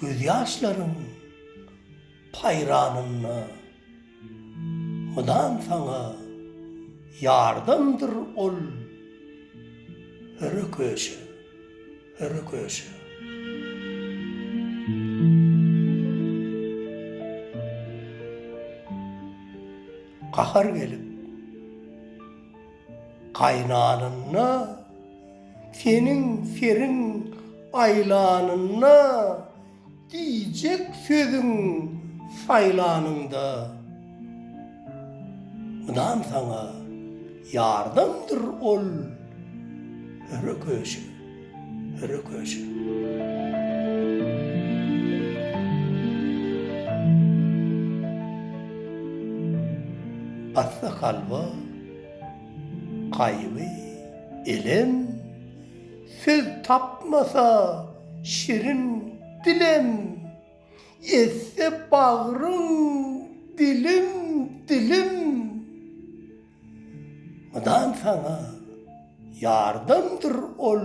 Gözýaşlaryň paýranynda mydam saňa ýardamdyr ol höre köşe, höre köşe. Gahar gelip. Gaýnanynda seniň seriň aýlanynda diýjek sözüň saýlanynda mydam saňa ýardamdyr ol höre köşe höre köşe. Atsa kalba Gaýgy, elem, söz tapmasa, şirin dilem, etse bagryň dilim, dilim. Mydam saňa ýardamdyr ol.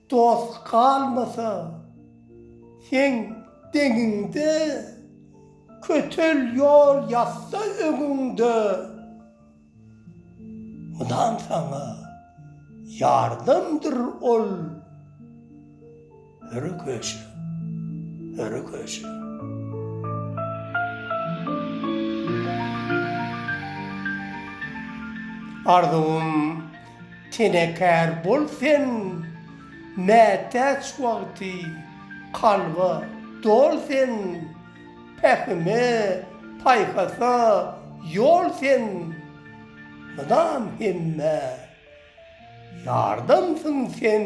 Dost galmasa, seň deňiňde, Kötel ýol ýatsa öňüňde. Mydam saňa ýardamdyr ol, Höre köşe, höre köşe. Arzuwym. Tenekar bol sen, mätäç wagty, kalba dol sen, pähime, paýhasa ýol sen, mydam hemmä ýardamsyň sen.